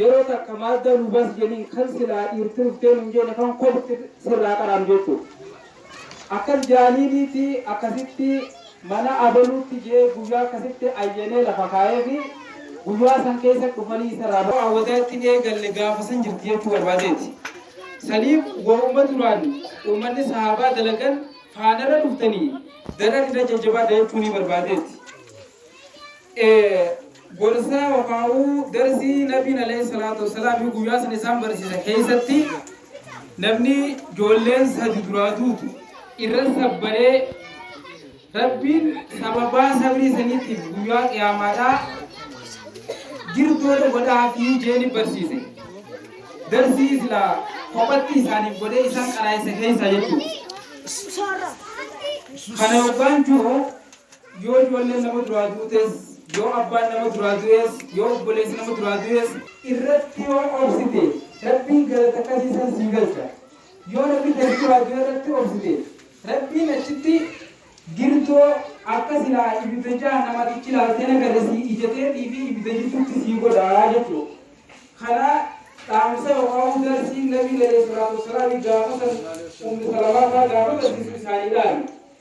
Yeroo takka maadda nu bas jeniin kan silaa dhiirti dhuftee nun jeene kan kopti sirraa qaraanu jettu. Akkas jaaniiniiti akkasitti mana abaluutti je'ee guyyaa akkasitti ayyanee lafa kaayeefi guyyaa san keessa dhufanii isarraa raawwataa ittin eegalle gaafa san jirti jechuu barbaadeeti. Saniif wahuma duraan ummanni sahaabaa dalagan faanarra dhuftanii daran irra jajjabaadha jechuunii barbaadeeti. e Gorsaa yokaauu darsii Nabiin Aleeyhi Salaatu Wassalaamii guyyaa san isaan barsiisa keeysatti namni joolleen sadi duraa duutu irra sabbaree Rabbiin sababaa sabrii saniitiif guyyaa qiyaamaadhaa girdoodha godhaafii jeeni barsiise. Darsii silaa kophatti isaaniif godhee isaan qaraayisa keeysaa jechuudha. Kana yoggaan jiru Yoo ijoolleen nama duraa duutes, yoo abbaan nama duraa du'es, yoo obboleessi nama duraa du'es. irratti yoo obsite, Rabbiin galata qasii san sii galcha. Yoo namni gadi duraa du'e irratti obsite, Rabbiin achitti girtoo akka silaa ibidda jahannamaatichi laaltee na gale sii ija teetii fi ibidda jidduutti sii godha jechu'u. Kana dhaamsa yokaa'uu darsiin Nabiin aleeyhi salaatu wassalaami gaafa san Ummu Salamaataa gaafa garsiisu isaanii dhaame.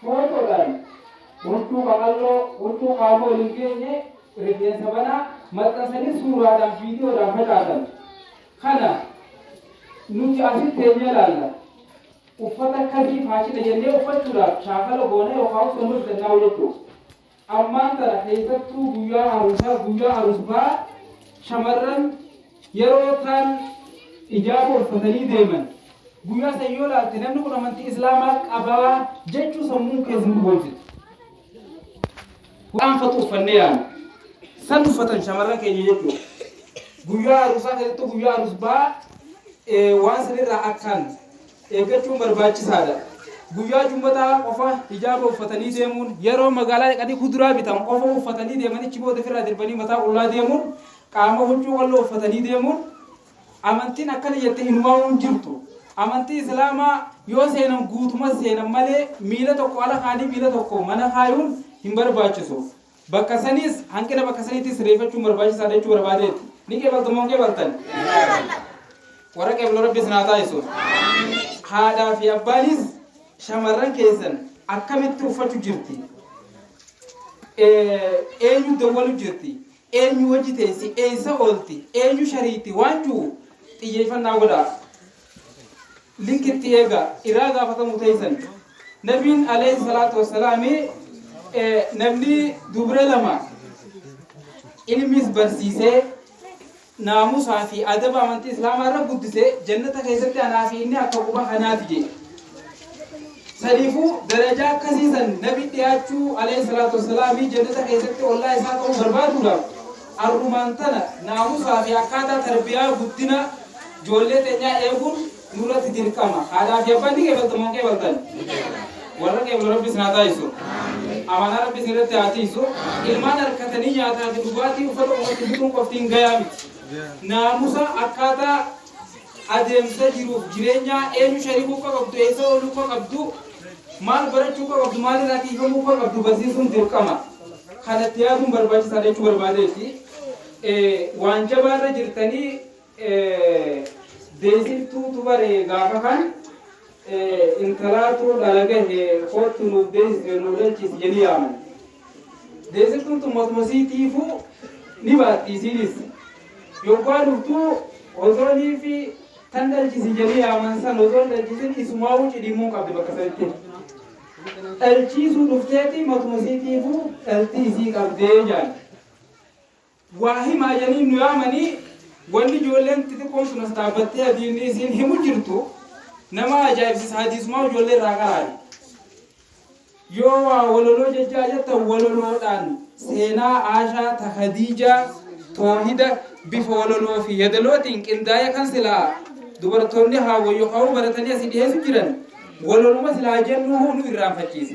Footodhaan, Huccuu qaqalloo, huccuu qaama ol hin geenye, rifeensa banaa, maxxansanii suuraadhaan, viidiyoodhaan facaasan. Kana nuti asitti teenyee ilaalla. Uffata akkasii faashina jennee uffachuudhaaf shaakala goona yookaan hojjannaa hojjechuu. Ammaan tana keessattuu guyyaa aruusaa, guyyaa arusfaa shamarran yeroo taan ijaaba uffatanii deeman guyyaa san yoo laalte namni kun amantii islaamaa qabaa jechuu sammuun keessa nu boonsiti. Waan fatu uffannee yaanu san uffatan shamarran keenya jechuudha. Guyyaa aruusaa keessattuu guyyaa arusbaa waan sanirraa akkaan eeggachuun barbaachisaa dha. Guyyaa Jummataa qofa hijaaba uffatanii deemuun, yeroo magaalaa dhaqanii kuduraa bitan qofa uffatanii deemanii achi booda ofirraa dirbanii mataa qullaa deemuun, qaama huccuu qalloo uffatanii deemuun amantiin akkana jette inumaa'uu hin jirtu. Amantii Islaamaa yoo seenan guutuma seenan malee miila tokko ala kaanii miila tokko mana kaayuun hin barbaachisu. Bakka saniis, hanqina bakka saniitiis sirreeffachuun barbaachisaadha jechuu barbaadeeti. Ni qeebaltu moo hin qeebaltan? Warra qeeblu Rabbi isin haa taasisu. Haadhaa fi abbaanis shamarran keessan akkamitti uffachu jirti? Eenyu dawwalu jirti? Eenyu hojii teessi? Eessa oolti? Eenyu shariitti? Waan jiru xiyyeeffannaa godhaa. link itti eega iraa gaafatamu teeysan nabiin alayhi salaatu wassalaami namni dubra lama ilmis barsiisee naamusaa fi adaba amantii islaamaa irra guddise jannata keessatti anaa fi inni akka quba kanaati jee saniifuu darajaa akkasiisan nabi dhiyaachuu alayhi salaatu wassalaami jannata keessatti ollaa isaa ta'uu barbaaduudhaaf Arrumaan tana naamusaa fi akkaataa tarbiyaa guddina joollee teenyaa eeguun nurratti dirqama. Haadhaa fi abbaan ni qeebaltan moo hin qeebaltan? Warra qeeblu Rabbi isin haa taasisu. Amaanaa Rabbi isin irratti haa tiisu. Ilmaan arkatanii nyaataa fi dhugaatii uffata uumatti bituun qofti hin gayaa miti. Naamusa akkaataa Adeemsa jiruuf jireenyaa eenyu sharikuu akka qabdu, eessa ooluu akka qabdu, maal barachuu akka qabdu, maal irraa tiiyfamuu akka qabdu barsiisuun dirqama. Kana itti yaaduun barbaachisaadha jechuu barbaadeeti. Waan jabaa irra jirtanii Deeysiftuutu bare gaafa kan Intalaatuu dhala gahe koottu nuuf deesisi nuu dhalchiisi jedhii yaaman. Deesiftuun tun matuma isii tiifuu ni baatti isiinis. Yoggaa dhuftu osoo niifi tan dhalchisi jedhii yaaman san osoo hin dhalchisin isumaawuu cidhiimuun qabdi bakka sanitti. Dhalchiisuu dhufteeti matuma isii tiifuu dhaltii isii qabdee jaan. Waa himaa janii nu yaamanii wanni ijoolleen xixiqqoon sun as dhaabbattee hadiisni isiin himu jirtu nama ajaa'ibsiisa hadiisumaa ijoollee irraa qaraani. Yoo waa wololoo jechaa jettan wololoodhaan seenaa Aashaa ta Hadiijaa toohida bifa wololoo fi yadalootiin qindaa'ee kan silaa dubartoonni haawwa yookaan baratanii asii dhiheessu jiran wololuma silaa jennuuhuu nu irraanfachiisa.